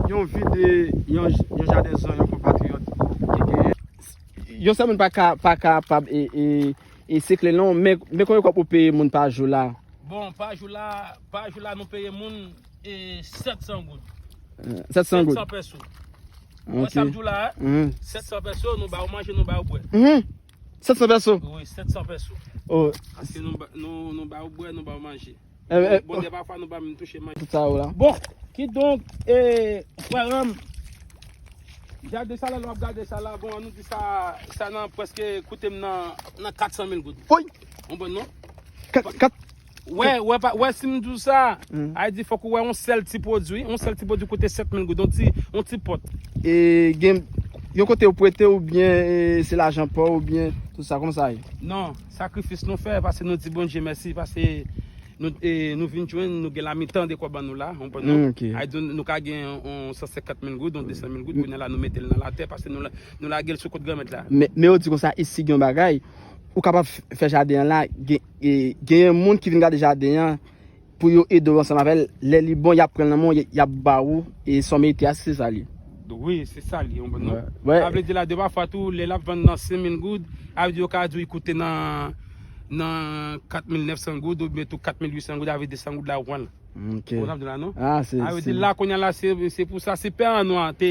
Yon vi de yon jaden zan yon konpatriyòt te genyen. Yon sèl moun pa kapab e sikle non, men konbyen kòb ou peye moun pa jou la? Bon, pa jou la, pa jou la nou peye moun. e 700 goud. 700 goud. 700 peso. Ou wè sa m di w la a? 700 peso, nou ba ou manje, nou ba ou bwè. 700 peso? Wi, 700 peso. Oh. Aske nou ba ou bwè, nou ba ou manje. Bon, de pa fwa nou ba m touche manje. Tout sa ou la. Bon, ki donk, e, frèranm, gade sa la lò ap gade sa la, bon, an nou di sa, sa nan preske koute m nan 400 mil goud. Woy! Ou bon non? 4, 4. Wè, wè pa, wè si m di w sa, a di fòk ou wè yon sèl ti pwodui, yon sèl ti pwodui koute 7000 goud, yon ti, yon ti pòt. E gen, yon kote yo pwete ou byen e se lajan pa w ou byen tout sa, kòman sa ye? Non, sakrifis nou fè, pase nou di Bondye mèsi, pase nou, e, nou vin jwenn, nou gen la mitan de kòb an nou la, ou konprann non? Ok. A di nou ka gen yon, yon 150 mil goud, yon 200 mil goud, kounye la nou mete l nan latè, pase nou la, nou lage l sou kont Granmèt la. Men, men yo di konsa, isi gen yon bagay, ou kapab fè jaden an la, gen. E genyen moun ki vin gade jaden an pou yo ede w ansanm avè l, lè li bon y ap pran l nan men w, y ap ba ou e sa w merite a si se sa li. Wi, se sa li, yon bon non. Sa vle di la de pafwa tou lè l ap vann nan senmil goud, sa vle di yo ka di w li koute nan katmil nèfsan goud oubyen tou katmil uitsan goud, sa vle di desan goud la ou pran l. Ou konprann sa m di w la non? Sa vle di la kounye a la se pou sa se pè an nwa te